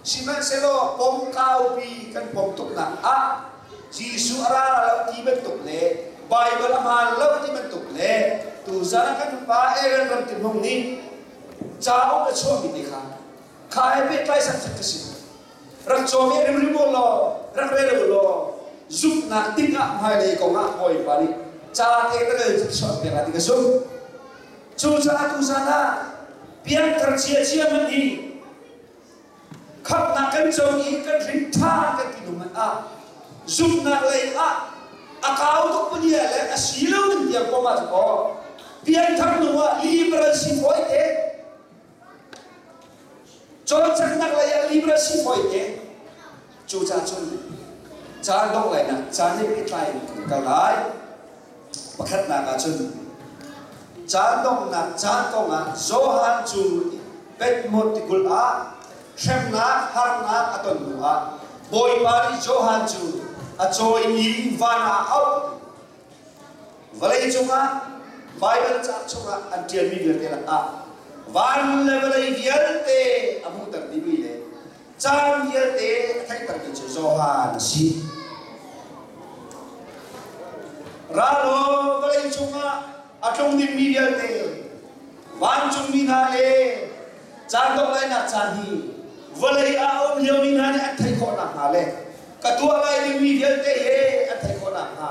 Sihmanhsehlaw pom kaupi kan pom tuknak ah Jesuh a ra lo ti bantuk le Baibal a hmaan lo ti bantuk le tuzan kan pa Aaron ram tihmung nih cauk a chuahmi te kha kha he pehtlaisak cu ka si. Rak cawm i rimrim u law rak rel u law zumhnak tikah hmailei kongah Bawipa nih ca te na rel chuah piak ah ti ka zumh. Cucaah tuzan ah pianthar ciacia hmanh hi Khamhnak kan co i kan hrin ṭhan kan ti ding ah zumhnak lei ah a kau tuk pania le a si lo in bia koma cu kaw pianthar hnu ah liberal si fawi te cawlcanghnak lei ah liberal si fawi te Cucaah cun caan dongh lai nak caan he pehtlai in kan kal lai. Pakhatnak ah cun caan donghnak caan kongah Johan cu Bethmod ah hremnak harnak a ton hnu ah Bawipa nih Johan cu a cawimi van ah a auh. Vawlei cungah Baibal caang chungah an ṭialmi vialte lakah van le vawlei vialte a hmuhter dihmi le Caan vialte a theih balmi cu Johan a si. Ra law vawlei cungah a tlung dingmi vialte, vancungmi hna le caan dohlainak caan hi vawlei ah a um liomi hna nih an theih khawh nakhnga le ka tuah lai dingmi vialte he an theih khawh nakhnga,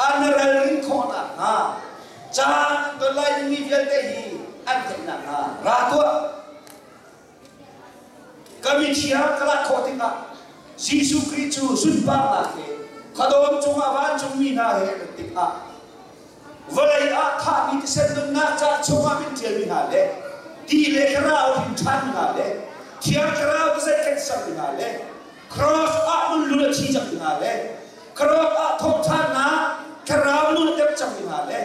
an ralrin khawh nakhnga, caan an ton lai dingmi vialte hi an theih nakhnga ra tuah. Ka mithi ah ka lak khawh tikah Jesuh Khrih cu sunparnak he ka dawn cungah vancungmi hna he kan tikah vawlei ah thahmi thisen nunnak ca chungah kan ṭialmi hna le ti le thlarau hrin ṭhanmi hna le thiang thlarau vazei kan sermi hna le cross ah nun lul a thi cangmi hna le cross ah thawhṭhannak thlarau nun a tep cangmi hna le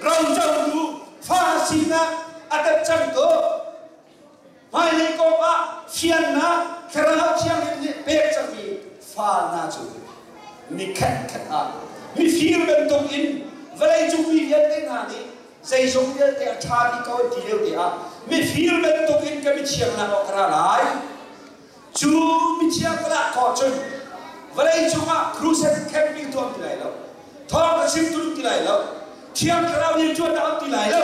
ro cohlu fa sinah a tep cang ko Hmailei kong ah fiannak thlarau thianghlim nih pek cangmi fa hna cu mi khatkhat ah mifir bantuk in vawleicung mi vialte hna nih zeizong vialte a ṭha bik ko an ti lio te ah mifir bantuk in ka mithiangnak awk ka ra lai. Cu mithiangnak kho cun vawleicung ah crusade khenmi tuah ti lai lo. Thawng ka chim tlung ti lai lo. Thiang thlarau nih ṭuan a hau ti lai lo.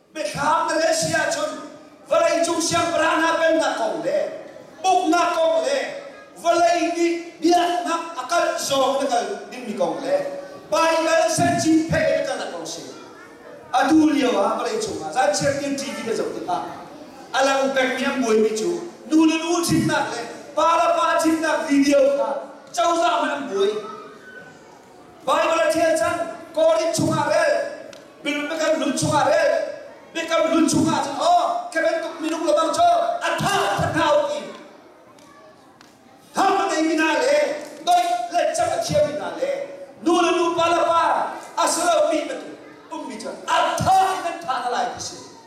Biathlam Malaysia ahcun vawleicung siangpahrang hna pennak kong le uknak kong le vawlei nih biaknak a kalh zong na kal dingmi kong le Baibal Cintiphe na kalnak kong si. Atu lio ah vawleicung ah zan chiatkin ṭi ka zoh tikah a lang pengmi an buaimi cu nu le nu ṭhitnak le pa le pa ṭhitnak video kha cozah nih an buai. Baibal a ṭhial cang, Korinth chungah rel, biakam hlun chungah rel, biakam hlun chungah cun aw, khi bantuk minung lebang cu a ṭha a ṭhat hna u ti. Ham a ngeimi hna le doih lehcap a khiami hna le nu le nupa le pa a si lomi bantuk ummi cu a ṭha in an ṭha hna lai ti si.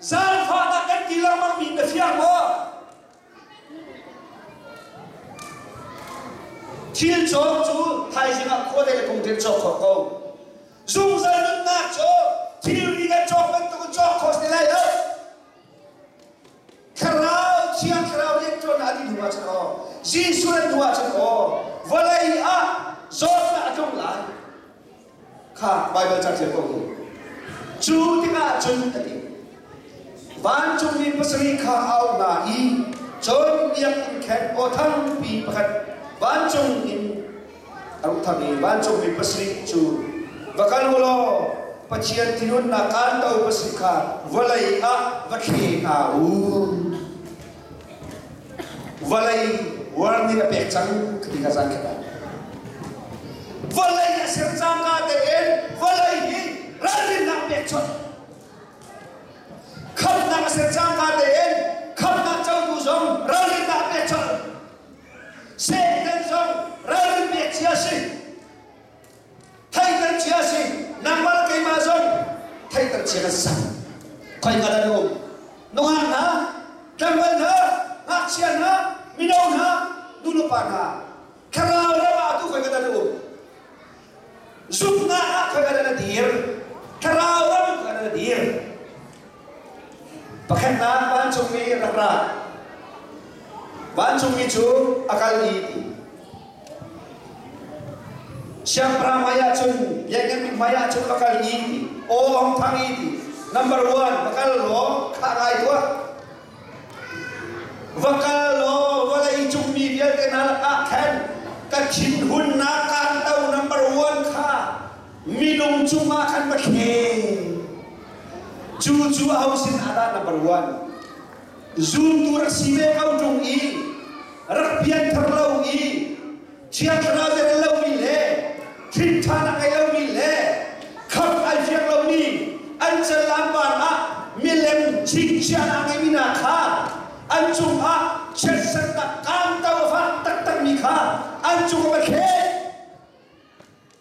Zaangfahnak kan ti lengmangmi ka si maw? Thil cawk cu thaizing ah khua le phung tein cawk khawh ko. Zungzal nunnak cu thilri kan cawk bantukin cawk kho si lai lo. Thlarau, Thiang Thlarau rian ṭuannak a dih hnu ahcun aw, Jesuh nan hnu ahcun aw, vawlei ah zawtnak a tlung lai. kha Baibal caṭial ko u. Cu tikah cun a ti. Vancungmi pasarih kha a auh hna i, John biakinn khen aw thangpi pakhat vancung in a ru thang i vancungmi pasarih cu, Va kal u law Pathian thinhunnak kanto pasarih kha vawlei ah va thlen hna u. Vawlei warning a pek cang ka ti ka zan kha vawlei a ser cangka tein vawlei hi ralrinnak pek chuah khamhnak a ser cangka tein khamhnak cotu zong ralrinnak pek chuah Satan zong ralrin pek cia si Thei kan chia si, nangmah keimah zong thei kan chia kan sang. Khoi ka la um. Nungan hna, tlangval hna, ngakchia hna, mino hna, nulepa hna, thlarau ram ah tu khoi ka la um. Zupna ah khoi ka la dir, thlarau ram khoi ka la dir. Pakhatnak vancungmi rak ra. Vancungmi cu a kal dih ti. Siangpahrang hmaiah cun biakinn mi hmaiah cun a kal dih ti. Aw Hong Thang i ti. Number one, va kal law khah ngai tuah. Va kal law vawlei cungmi vialte hna lakah khan ka thinhunnak kaan to number one kha Minung cungah kan va thleng. Cu cu aho sin ah dah na va ruat? Zumtu rak si ve ko ṭung i rak pianthar lo i Thiang Thlarau a rel lomi le hrinthan a ngei lomi le khamh ai fiang lomi an canlanpar ah milem chingchiah a ngeimi hna kha an cungah chiatserhnak kaamto ha taktakmi kha an cungah va thleng.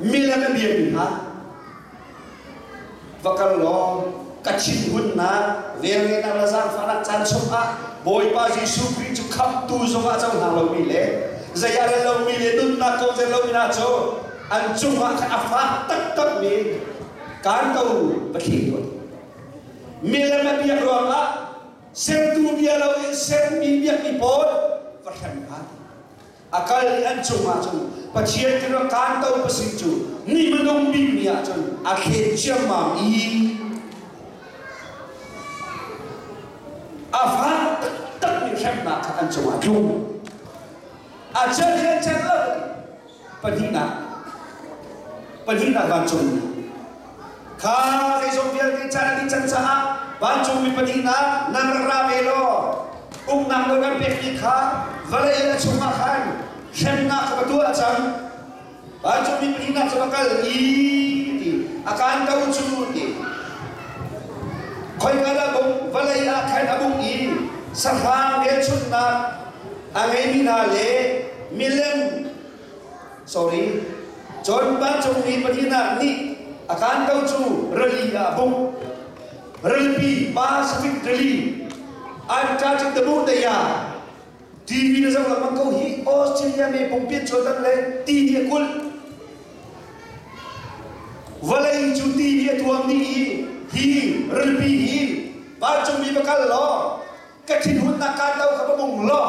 Milan a biami hna, va kal law ka thinhunnak velngenak le zaangfahnak caan chungah Bawipa Jesuh Khrih cu khamhtu zungah co hna lomi le zei a rel lomi le nunnak ko zel lomi hna cu an cungah khan a fak taktakmi kaan ko va thli tuan. Milan a biak ruangah sertu bia loin sermi biakmi pawl va hrem hna. A kal i an cung ahcun Pathian kha kanto pasing cu ni hmanung bik ni ahcun a thlen ciammam i a fak taktakmi hremnak kha an cungah a tlung. A celh le celh lo pahnihnak pahnihnak vancungmi Kha kei zong vialte can dih can caah vancungmi pahnihnak nan rak ra ve law uknak nawl kan pekmi kha vawlei in a chungah khan hremnak kha va tuah cang. Vancungmi pahnihnak cu va kal i ti a kaan ko cu ti. Khoika dah bung vawlei ah khan a bung i sahrang velchunhnak a ngeimi hna le milem Sorry. Cun pa cung mi pahnihnak nih a kaan ko cu rali ah a hmuh. Ralpi Pacific Rally an ṭa cik tamu daya TV na zoh lengmang ko hi Australia me pumpi chuan dan le ti hi a kulh vawlei cu ti hi a tuam mi hi hi ralpi hi vancung mi va kal law ka thinhunnak kaan do kha va mung law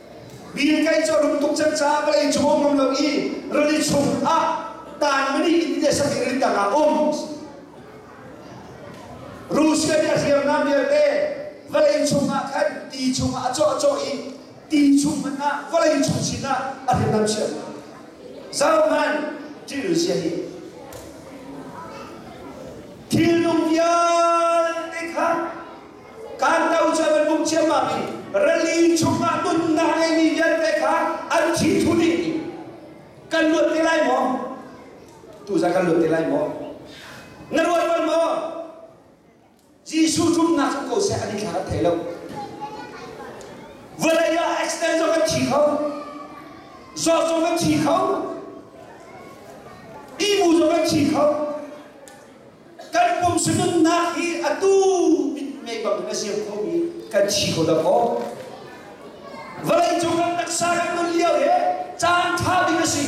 Bill Gates cu a rum tuk cang caah vawlei cung a um ngam lo i rili chung ah tanmani India sakin rin dang ah a um. Russia nih a hriamnam vialte vawlei cung ah khan ti chung ah a cawh a cawh i ti chung hmanh ah vawlei cung sin ah a hriamnam chiah. Zohman thil zia hi thil dang vialte kha Kanto cu an hmuh ciammam i rali chungah nunnak ngeimi vialte kha an ṭhithu dih i kan luat te lai maw? Tu za kan luat te lai maw? Na ruat bal maw? Jesuh zumhnak cu ko seh an i thlarat thai lo. Vawlei ah accident zong kan thi kho. Zawt zong kan thi kho. Ihmu zong kan thi kho. kan pum sununnak hi atu in mei bang na siam kho mi kan si kho lo maw vawlei cung kan taksa kan nun lio hi caan ṭha bik a si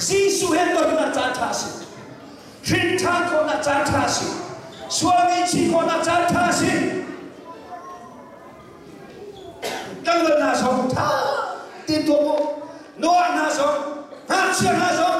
Jesuh he tonnak caan ṭha a si hrin ṭhan khawhnak caan ṭha a si sual ngaihchih khawhnak caan ṭha a si kan dawt hna zong ṭha tein tuah u nuah hna zong ngakchia hna zong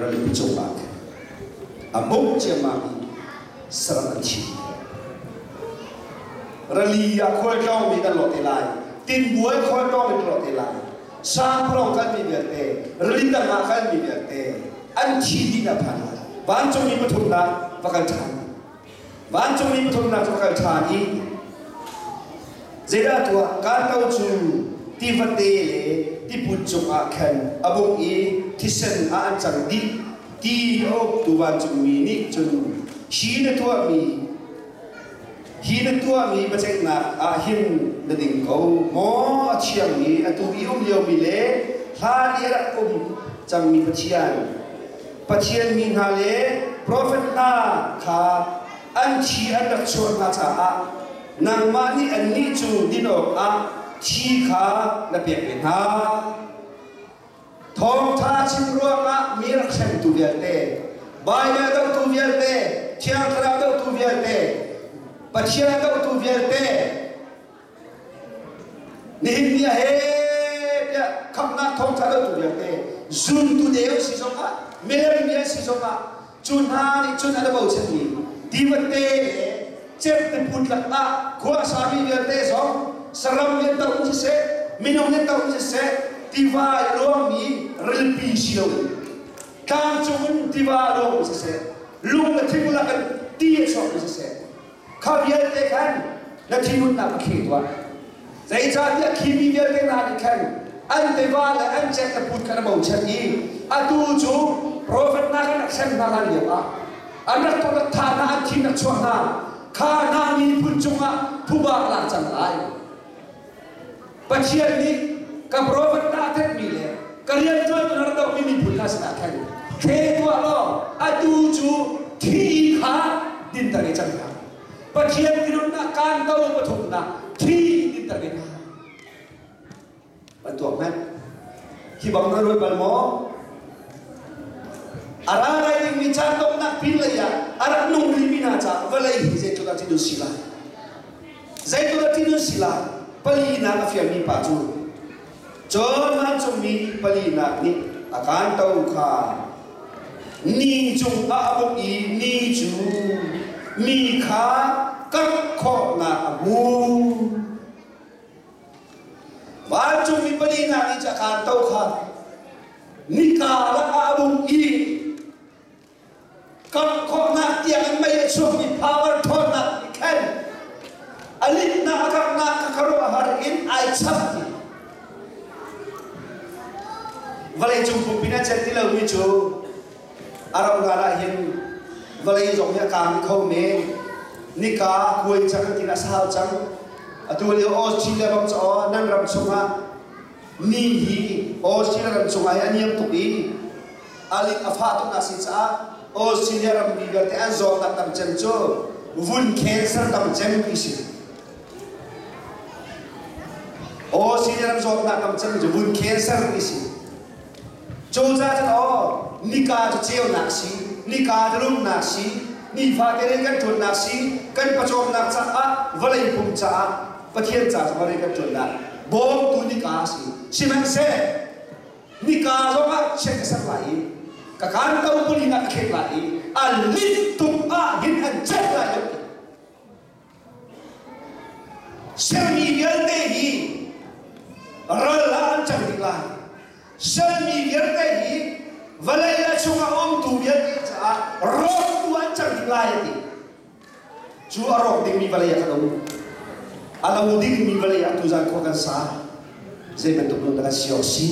ral cungah khin a bawmh ciammam i saram an chim rali ah khual tlawngmi kan lo te lai tinbuai khual tlawngmi kan lo te lai sangpharo kalmi vialte rali tangah kalmi vialte an thi dih na phan lai vancungmi pathum dah va kal ṭhan Vancungmi pathumnak cu ka kal ṭhan i zeidah tuah kaan lo cu tifate le tiput cungah khan a bung i thisen ah an cang dih ti a uktu vancungmi nih cun hi na tuahmi hi na tuahmi biaceihnak ah hin na ding ko maw a thiangmi atu i um liomi le hlan i a rak um cangmi Pathian Pathian mi hna le profet hna kha an thi an rak chuah hna caah nangmah nih annih cu din awkah thi kha na pek ve hna. Thawngṭha chim ruangah mi rak hremtu vialte, Baibal dohtu vialte, thiang thlarau dohtu vialte, Pathian dohtu vialte, Nihin ni ah he tiah khamnak thawngtha lo tu vialte zumtu deu si zong ah meri vial si zong ah cu hna nih cun an bochan mi divate le cep put lak ah khua sami vialte zong saram nih tar um siseh minung nih tar um siseh tiva i ruangmi rilpi si lo in tlangcung in tiva ruang um siseh lung le thinglak in ti a sawm um siseh Kha vialte khan na thinhunnak a kheh tuah. Zeicahtiah khi mi vialte hna nih khan an tiva le an cenggaput kha an bochan i atu cu profet hna kan rak hrem hna hlan lioah an rak rak tha hna, an thin rak chuah hna, kha hna miphun cungah phuba a lak cang lai. Pathian nih ka profet dah thanmi le ka rianṭuantu na rak dohmi miphun kha sinah khan hre tuah law atu cu thih kha dinter i cang hna. Pathian minungnak kaan do pathumnak thih dinter ve hna. Van tuak meh. Hi bang na ruat bal maw? A ra lai dingmi ca donghnak pinlei ah a rak nung rimi hna caah vawlei hi zeitluk ah cun si lai. Zeitluk a ti nan si la, palinak a fialmi pa cu, Cun vancungmi palinak nih a kanto kha ni cungah a bawmh i ni cu mi kha karh khawhnak a hmu. Vancungmi palinak nih a kanto kha ni karah a bawmh i Kan khawhnak tiang mei a chuakmi power ṭhawnnak nih khan a linhnak a karhnak a ka ruahhar in ai chap ti. Vawleicung pumpi in a celh ti lomi cu a roral ah hin vawlei zong hi a kaang kho men. Nika kuai cang ti a sau cang. Atu lio Australia bang cu nan ram chungah mi hi Australia ram chungah an iang tuk in a lit a fah tuk na si caah Australia rammi vialte an zawtnak tam cem cu vun cancer tam cem ti si. Australia ram zawtnak tam cem cu vun cancer ti si. Cawca cu thaw, nika cu ceunak si, nika cu rumnak si, nifate ri kan ṭuannak si, kan pawcawmnak caah, vawlei pum caah, Pathian ca zongah ri kan ṭuannak bawmtu nika a si. Sihmanhseh, nika zongah chiat ka ser lai i, ka kanto pulin ah ka khek lai i, a linh tuk ahhin an ciat lai lo ti. Sialmi vialte hi ral ah an cang ding lai. Sialmi vialte hi vawlei le chungah umtu vialte caah rawktu an cang ding lai a ti. Cu a rawk dingmi vawlei ah kan um. A lo dingmi vawlei ah tuzan khua kan sa. Zei bantuk nun dah kan si awk si?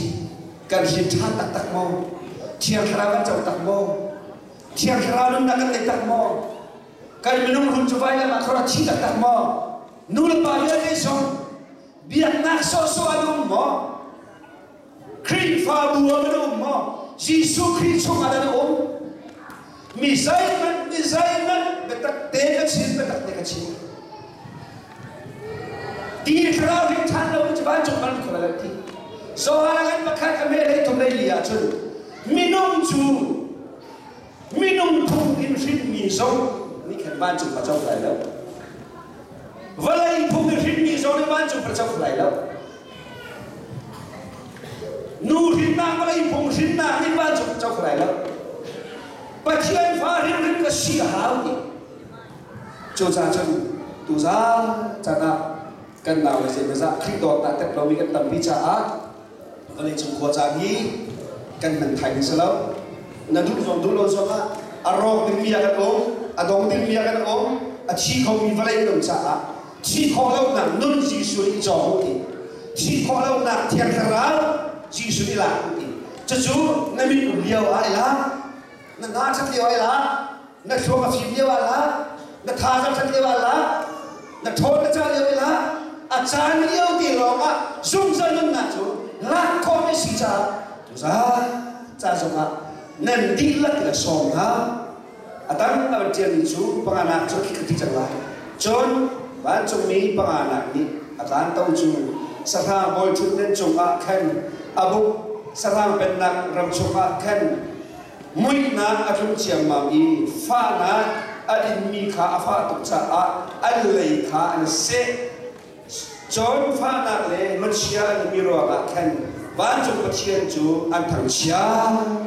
Kan hrin ṭhan taktak maw? Thiang Thlarau kan co tak maw? Thiang Thlarau nun dah kan tei tak maw? kan minung rum cu vai le ma thora chi tak tak maw nu le pa vialte song biaknak sawhsawh an um maw Khrihfabu ah an um maw Jesuh Khrih chungah an um mi zeihmanh mi zeihmanh biatak te ka chin biatak te ka chin ti thlarau ring than lo cu van cung man khora ti so harang an pakhat ka me lei thum lei li ah cun minung cu Minung phung in hrinmi zong nih khin vancung a co lai lo. Vawlei phung in hrinmi zong nih vancung a co lai lo. Nu hrinnak vawlei phung hrinnak nih vancung a co lai lo. Pathian fa hrinhrin ka si a hau i cuca cun tu zan canah kan naule zeimazah Khrih dawt dah tek lomi kan tampi caah vawleicung khua caan hi kan hman thai ding si lo na duh zong duh lo zong ah a rawk dingmi ah kan um a dong dingmi ah kan um a thi khomi vawlei kan um caah thi khawh lonak nun Jesuh nih cawng u ti thi khawh lonak thiang thlarau Jesuh nih lak u ti cucu na min um lio ah i lak na na ṭhat lio ah i lak na hruang a fim lio ah la na tha zong ṭhat lio ah la na ṭhawn na cah lio ah la a caan lio ti lawng ah zungzal nunnak cu lak khawh mi si caah tuzah ca zong ah nan dihlak in a sawm hna a dang a van ṭialmi cu panganak cu khi ka ti cang lai cun vancungmi panganak nih a kaan to cu sahrang bawi ṭhut nan cung ah khan a buk sahrang pennak ram chung ah khan Muihnak a tlung ciammam i fahnak a inmi kha a fah tuk caah an lei kha an seh. Cun fahnak le machia an ummi ruangah khan vancung Pathian cu an thangchiat.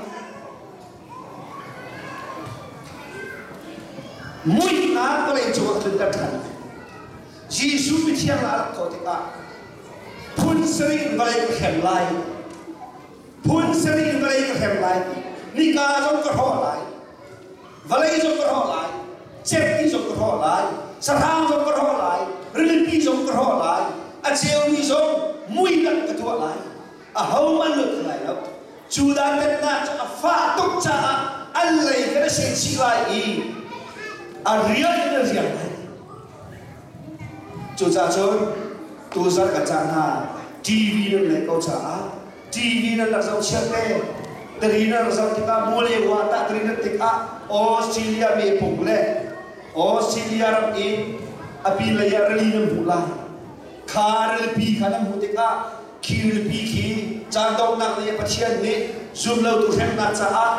Muihnak vawlei cungah cun kan ṭhan. Jesuh mithiang ah rat khawh tikah phun sarih in vawlei ka hrem lai. phun seri in vawlei ka hrem lai nika zong ka hrawh lai vawlei zong ka hrawh lai cemmi zong ka hrawh lai sahrang zong ka hrawh lai rilipi zong ka hrawh lai a ceumi zong muidang ka tuah lai a homan lo ti lai lo Judah pennak cu a fah tuk caah an lei kan a seh chih lai i a rial in a rial lai Cucacun tuzarh ka cah hna TV nan ngeih ko caah TV nan rak zoh chiat te tari nan rak zoh tikah Malaysia ah tah tari nan tikah Australia mepung le Australia ram in a pin lei ah rili nan hmuh lai kha rilipi kha nan hmuh tikah khi rilipi khi caan donghnak lei ah Pathian nih zumlotu hremnak caah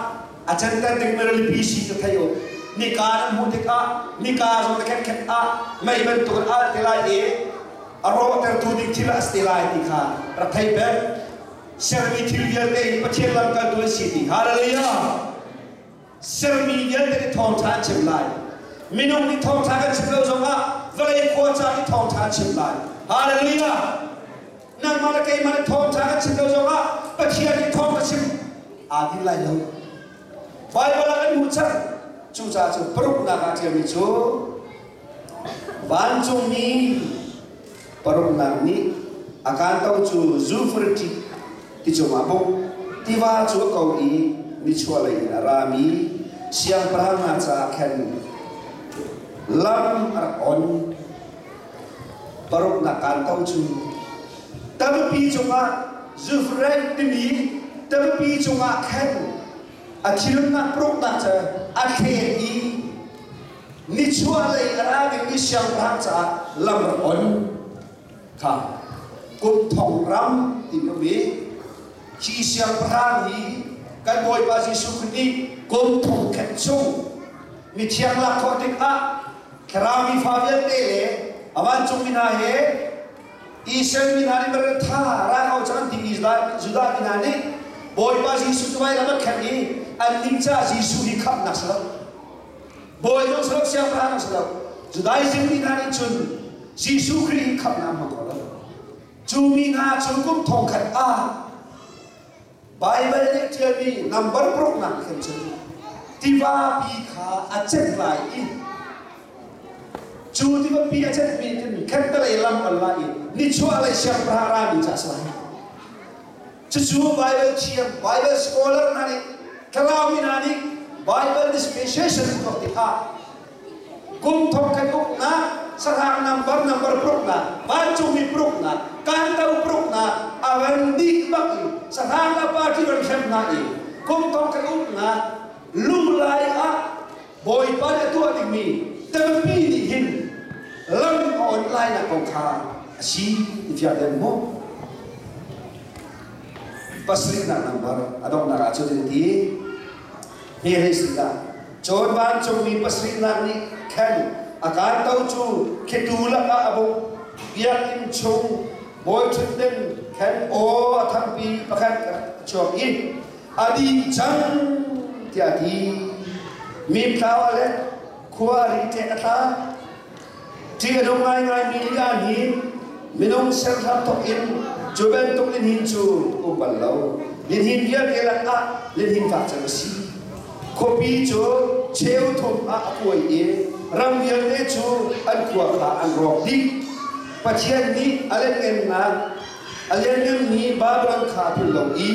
a center dingmi rilipi si ka thei uh nika na hmuh tikah nika zong na khetkhet ah mei bantuk in al te lai i a rawhtertu ding thil a si te lai ti kha rak thei ben sermi thil vialte hi Pathian lamkaltu an si ti hallelujah sermi vialte nih thawngṭha an chim lai minung nih thawngṭha kan chim lo zongah vawlei khua ca nih thawngṭha an chim lai hallelujah nangmah le keimah nih thawngṭha kan chim lo zongah Pathian nih thawng ka chim aa din lai lo Baibal ah kan hmuh cang cucaah cu paruknak ah ṭialmi cu vancungmi paruknak nih a kaan to cu zufriṭi ti cungah buk tiva cu a ko i nichuah lei in a rami siangpahrang hna caah khan lam a rak on paruknak kaan kong cu tampi cungah zufrei timi tampi cungah khan a thilnak paruknak cu a thlen i nichuahlei a ra dingmi siangpahrang caah lam rak on kha kumthong ram ti ka mi hi siangpahrang hi kan bawipa jesuh khrist nih kum thong khat chung mithiang lak khawh tikah Thlarau mi fa vialte le a vancungmi hna he Israel mi hna nih bel tha ra ko cang timi Judah mi hna nih Bawipa Jesuh cu vai lam a khen i an ning ca Jesuh hi khamhnak si lo Bawi zong si lo siangpahrang si lo Judaism mi hna nih cun Jesuh Khrih hi khamhnak ma ko lo cu mi hna cu kum thong khat ah Baibal nih ṭialmi nambar paruknak khin cun tivapi kha a cenh lai i cu tivapi a cenhmi cun khentalei lam pal lai i nichuahlei siangpahrang rami ca a si lai. Cucu Baibal thiam, Baibal scholar hna nih tlau mi hna nih Baibal dispensation an tuah tikah kum thong kan uknak sarang nambar nambar pruknak vancungmi pruknak kanto pruknak avan dih bak in sarang la party ron hrem na i kum thong kan uknak lunglai ah bawipa nih a tuah dingmi tampi nih hin lam on lai na kong kha a si i fial den mu pasrih nak nambar a donghnak ah cu ti Hi hei si dah. Cun vancungmi pasarihnak nih khan a kaito cu khetu lakah a buk biakinn chung bawi ṭhutnem khan aw a thangpi pakhat a chuak i a ding cang tiah a ti. Mimtlau a let, khua a ri ṭeh a tla. Ṭih a nung ngaingaimi li ah hin minung serhram thawk in cu bantuk lihnin cu um bal lo. Lihnin vialte lakah lihnin fak cem a si. Khuapi cu cheu thum ah a puai i ram vialte cu an khua kha an rawk dih. Pathian nih a lianhngemnak a lianhngemmi Babilon kha a phulh lo i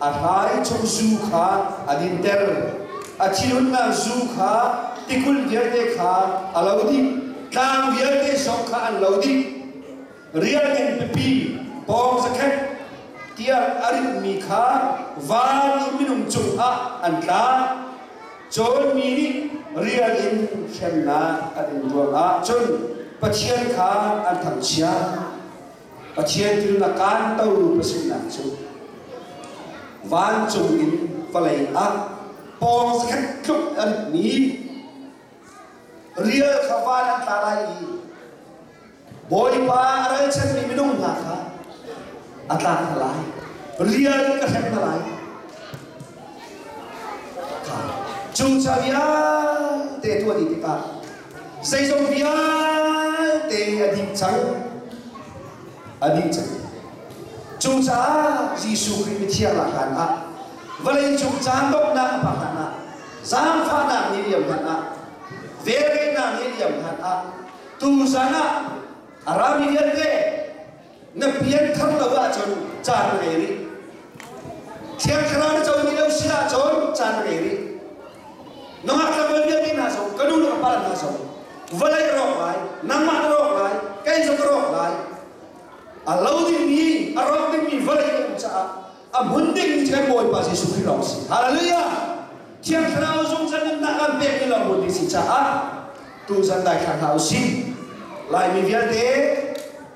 a hlaichung zu kha an in tel a thilunnak zu kha tikul vialte kha a lo dih tlang vialte zong kha an lo dih rial in pipi pawng zakhat tiah a ritmi kha van i minung cungah an tla cun mi nih rial in hremnak an in tuar ah cun Pathian kha an thangchiat Pathian thil a kantertu pasinnak cu vancung in vawlei ah pawngkhat tluk anmi rial kha van an tla lai i Bawipa a ralchanmi minung hna kha a tlak hna lai rial in ka hrem hna lai cuca vialte tuah dih tikah Zeizong vialte a dih cang. A dih cang. Cucaah Jesuh Khrih mithiang ahlan ah vawleicung caan donghnak a phak hlan ah, zaangfahnak ni liam hlan ah, velngeihnak ni liam hlan ah, tuzan ah a rami vialte na pianthar lo ahcun caan rel rih thiang thlarau na co ni lo si ahcun caan rel rih nangah ka bel vialte hna zong ka nu le ka pa hna zong vawlei rawk lai nangmah na rawk lai kei zong ka rawk lai a lo dingmi a rawk dingmi vawlei na um caah a hmun dingmi cu Bawipa Jesuh Khrih lawng si. Hallelujah! Thiang Thlarau zungzal nunnak an pek mi lawng bupi si caah tuzan daithlang hna u sih. Laimi vialte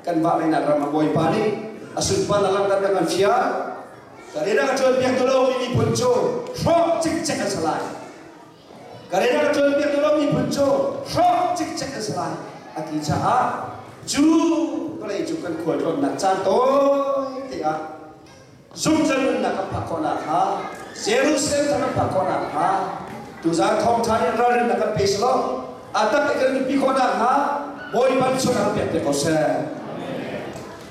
kan vahmeinak ram ah Bawipa nih a sunparnak langhter na kan fial. Kan i rak cawnpiaktu lawng mi miphun cu hrawk cikcek an si lai. Korea tuanbia ka romi phun cu hrawk cikcek ka si lai a ti caah cu vawlei cu kan khualtlawnnak caan tawi te ah zungzal nunnak kan phak khawhnak hnga Jerusalem thar kan phak khawhnak hnga tuzaan thawngṭha in ralrinnak kan pe selaw a tak i kan mipi khawhnak hnga Bawi ban chung ah kan pek te ko seh.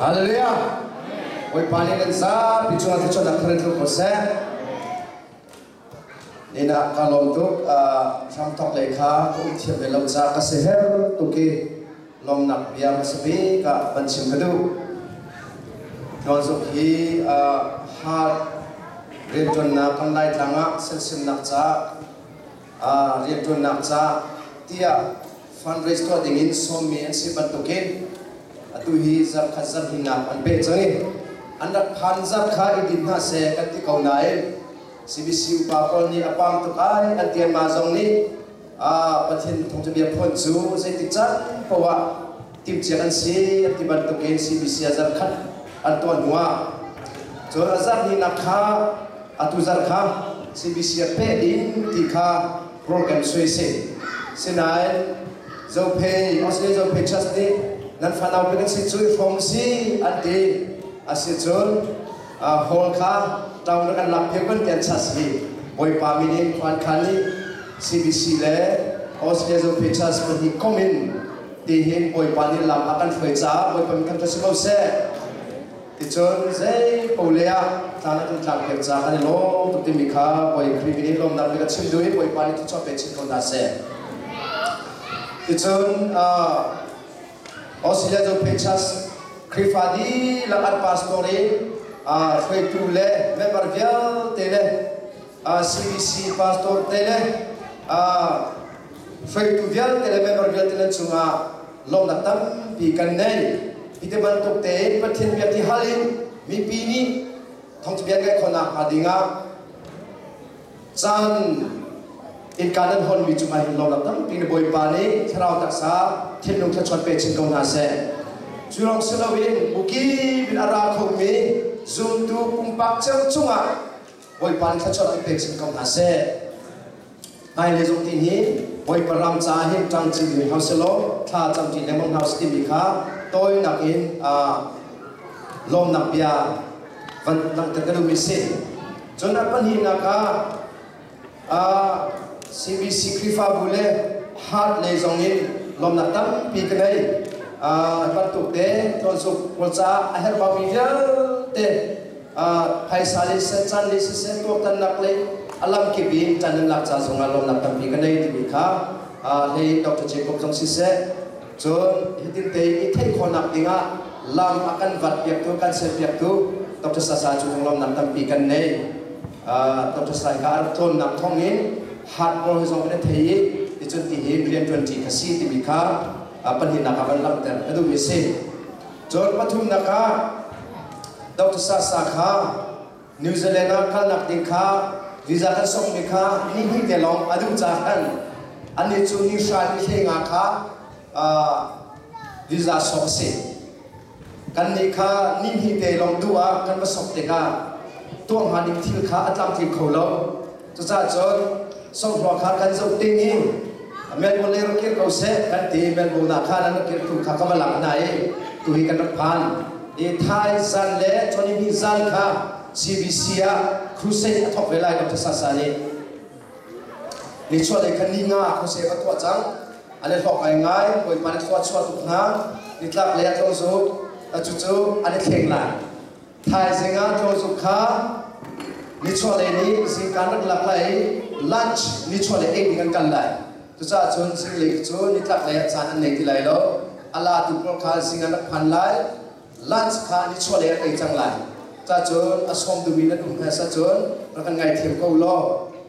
Hallelujah! Bawipa nih kan zapi cungah cun an kharin tluk ko seh. Inn ah ka lawm tuk. Hramthawk lei kha ka um thiam le lo ca ka si her tuk i lawmnak bia ka si bi ka van chim ka duh. Tuanzuk hi heart rianṭuannak kan Laitlang ah sensennak ca rianṭuannak caah tiah fundraise tuah ding in sawmmi an si bantukin atu hi zarkhat zarhlinak an peh cang i an rak phan zarh kha i din hna seh kan ti ko nain CBC upa pawl nih a pam tuk ai an tianma zong nih Pathian thawngṭhabia phuan cu zeitik caan poah timhcia an si an ti bantukin CBC ah zarkhat an tuah hnuah cun a zarhnihnak kha atu zar kha CBC ah peh ding ti kha rawl kan suai si sinain Zophei Australia Zophei Trust nih nan fanau pe kan si cu hrawm si an ti asicun hall kha town ah kan lak pheu kan ti an chas hi Bawipa min in khuan khan nih CBC le Australia Zophei Trust pahnih kom in Tihin Bawipa nih lam a kan hruai caah Bawipa mikhat cu si ko seh. Ticun zei po le ah tlang le kan tlangpiak caah kan i lawm tuk timi kha Bawi Khrih min in lawmnak bik a chim duh i Bawipa nih thuchuah pe chin ko hna seh. Ticun uh, Australia cu Pechas Khrihfa dihlak an pastor i uh, hruaitu le member vialte le CBC pastor te le hruaitu vialte le member vialte le cungah lawmhnak tampi kan nei. Hi te bantuk tein Pathian bia ti hal in mipi nih thawngthabia kai khonak hnga dingah caan innka nan hawnmi cungah hin lawmnak tampi na Bawipa nih thlarau taksa thinlung thlachuan pe chin ko hna seh. Cu lawng si loin ukip in a ra khomi zumtu pumpak ceu cungah Bawipa nih thluachuah an pek hrim ko hna seh. Hmailei zong ti hi Bawipa ram ca hi ṭang cil ding hau selaw thla cam ṭi lengmang hau si timi kha tawinak in lawmnak bia van langhter ka duhmi si. Cun a pahnihnak ah CBC Khrihfabu le Heart lei zong in lawmnak tampi ka ngei. Bantuk te tlawnsuk pawl caah a herh baumi vialte phaisa le can le siseh tuaktannak le a lamkip in tan in lak ca zongah lawmnak tampi ka nei timi kha hlei Dr. Jacob zong siseh cun hitin te i theih khawhnak dingah lam a kan vat piaktu kan sel piaktu Dr. Sasa cu lawmnak tampi kan nei. Dr. Saika a rak tlawnnak thawng i hardware hi zong kan i thei i ticun ti hi rianṭuanṭi kha si timi kha pahnihnak ah van langhter ka duhmi a si. Cun pathumnak ah Dr. Sasa kha New Zealand ah kalnak ding kha visa kan sokmi kha nihnih te lawng a duh caah khan anih cu ni hra ni hle nga kha visa sawk a si. Kannih kha nihnih te lawng duh ah kan va sok tikah tuah hnga ding thil kha a tlamtling kho lo. Cucahcun songhua kha kan zoh ding i Melbourne lei rak kir ko seh kan ti Melbourne ah khan an rak kirtu kha ka va lak hna i tuhi kan rak phan. Ni Thai zan le Chawni ni zan kha CBC ah crusade a thawk ve lai Dr. Sasa nih Nichuahlei khan ni nga khuasep a tuah cang. A le hlawk ngaingai, Bawipa nih khua chuah tuk hna. Nitlak lei ah tlaw zuk, cucu an i thleng lai. Thaizing ah tlaw zuk kha nichuahlei nih zingka an rak lak lai i lunch nichuahlei ei ding an kal lai. Cucaah cun zinglei cu nitlak lei ah caan an ngei ti lai lo. A latu pawl kha zing an rak phan lai. lunch kha nichuahlei ah ei cang lai. Cacun a sawm duh i nan um hmasa cun rak kan ngaithiam ko u law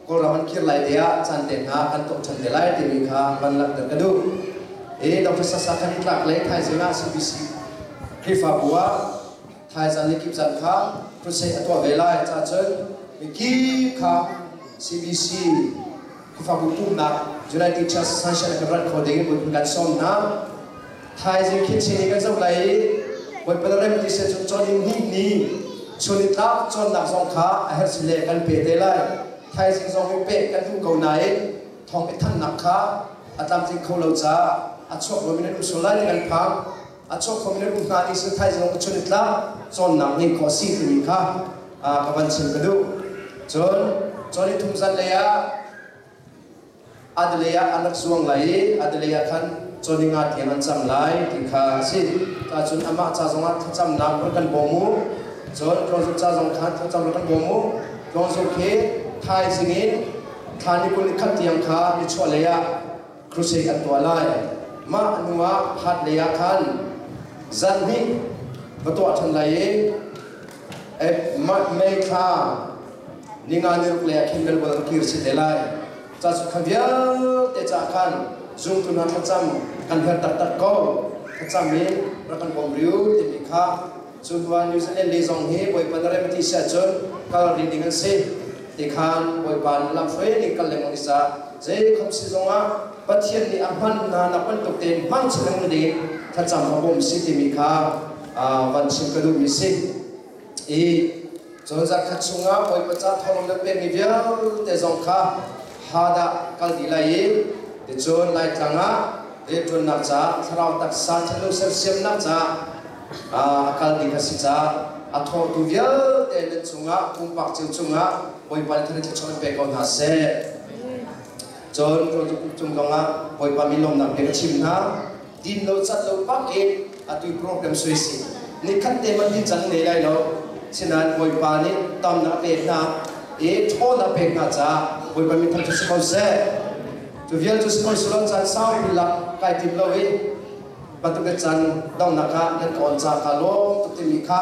Kawlram an kir lai deh ah caan pek hna kan tuah ṭhan ve lai timi kha van langhter ka duh. Hi Dr. Sasa Khan Itlak le thaizing ah CBC Khrihfabu ah thaizan le kip zan kha crusade a tuah ve lai. Cacun mikip kha CBC Khrihfabu pumhnak July Teachers Sunshine a kan rat kho ding in bunh kan sawm hna. Thaizing khinching in kan zoh lai i Bawipa le remti sin cun cawn in hnihmi chun i tlak cawnnak zong kha a herh si le kan pe te lai. Thaizing zong i peh kan duh ko nain thawng i thannak kha a tlamtling kho lo caah a chuak ruam in an um sual lai ti kan phang. a chuakpam le rum hna ti sal thai zong ka chun i tlak cawnnak ngeih khawh a si timi kha ka van chim ka duh cun cun i thum zan lei ah adalei ah an rak zuang lai i adalei ah khan cawni nga tiang an cam lai ti kha a si ka cun amah ca zong ah thlacamnak rak kan bawm u cun tlawngzuk ca zong khan thlacam rak kan bawm u tlawngzuk hi thaizing in thla ni kul ni khat tiang kha ni chuah lei ah crusade an tuah lai. Mah hnuah hatlei ah khan zan hnih va tuah ṭhan lai i mah thla ninga ni ruk lei ah khin Belbual ram kir si te lai. Ca cu kha vialte caah khan zumtu hna thlacam kan her taktak ko. Thlacam i rak kan bawm riu timi kha Cu hnuah New Zealand lei zong hi Bawipa na rem ti si ahcun kal rih ding an si. Tikhan Bawipa nih lamhruai in kal lengmang i za. Jacob sin zongah Pathian nih a hman hna nak bantuk tein hmangchih lengmang dingin thlacam a bawm si timi kha van chim ka duhmi si. I Cun zarkhat chungah Bawipa ca thawng na pekmi vialte zong kha Hadah kal dih lai i ticun Laitlang ah rianṭuannak caah thlarau taksa thanung sersiamnak caah a kal ding a si caah a thawngtu vialte nan cungah pumpak cio cungah Bawipa nih thar thluachuah an pe ko hna seh. Cun rawltuk kum kongah Bawipa mi lawmnak bia ka chim hna. din lo cat lo bak i atu program sui si nikhat te hmanh hi cang ne lai lo. Sinain Bawipa nih ton a pek hna i ṭhawn a pek hna caah Bawipa min thang cu si ko seh. Cu vial cu si ko si lo caan saupi lak kai tim lo i bantukin caan donghnak ah nan ka on ca kha lawm tuk timi kha